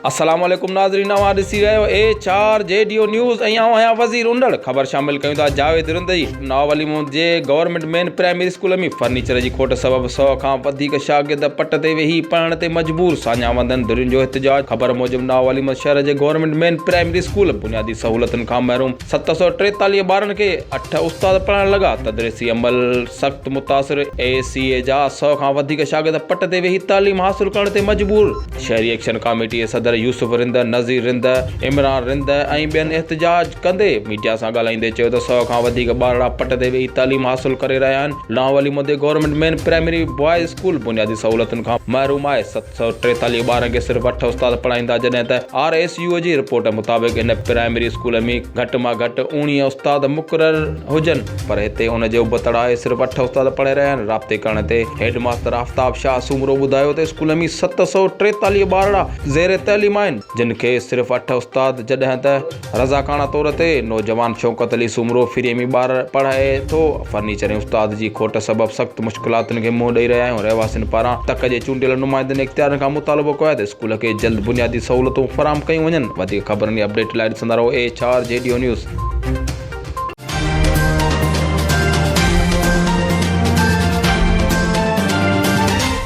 السلام عليڪم ناظرين اوهان ڏسي رهيو اي چار جي ڊيو نيوز ۽ آئون آهيان وزير انڊڙ خبر شامل ڪيون ٿا جاويد رندي ناو علي محمد جي government main primary school ۾ furniture جي کوٽ سبب 100 کان وڌيڪ شاگرد پٽ تي ويهي پڙهڻ تي مجبور ساڃاهه وندن ڌرين جو احتجاج خبر موجب ناو علي محمد شهر جي گورنمينٽ مين پرائمري اسڪول بنيادي سهولتن کان محروم ست سؤ ٽيتاليهه ٻارن کي اٺ استاد پڙهائڻ لڳا، تدريسي عمل سخت متاثر، اي سي اي جا سؤ کان وڌيڪ شاگرد پٽ تي ويهي تعليم حاصل ڪرڻ تي مجبور، شهري ايڪشن ڪاميٽي صدر يوسف رند، نذير رند، عمران رند ۽ ٻين احتجاج ڪندي ميڊيا سان ڳالهائيندي چيو ته سؤ کان وڌيڪ ٻارڙا پٽ تي ويهي تعليم حاصل ڪري رهيا آهن، لاهون علي مدي government main primary boys school بنيادي سهولتن کان محروم آهي، ست. سؤ ٽيتاليهه ٻارن کي صرف اٺ استاد پڙهائيندا جڏهن ته آر ايس يو جي رپورٽ مطابق هن پرائمري اسڪول ۾ گهٽ مان گهٽ اوڻيهه استاد مقرر هجن پر هتي ان جي ابتڙ آهي صرف اٺ استاد پڙهائي رهيا آهن رابطي ڪرڻ تي هيڊ ماستر آفتاب شاهه سومرو ٻڌايو ته اسڪول ۾ ست سؤ ٽيتاليهه ٻارڙا زير تعليم آهن جن کي صرف اٺ استاد جڏهن ته رضاڪاڻه طور تي نوجوان شوڪت علي سومرو فري ۾ ٻار پڙهائي ٿو، فرنيچر ۽ استاد جي کوٽ سبب سخت مشڪلاتن کي منهن ڏئي رهيا آهيون، رهواسين پاران تڪ جي چونڊيل نمائندن ۽ اختيارين کان مطالبو ڪيو آهي ته اسڪول کي جلد بنيادي سهولتون فراهم ڪيون وڃن، وڌيڪ خبرن ۽ اپڊيٽ لاء ڏسندا رهو اي ايڇ آر جي ڊيو نيوز.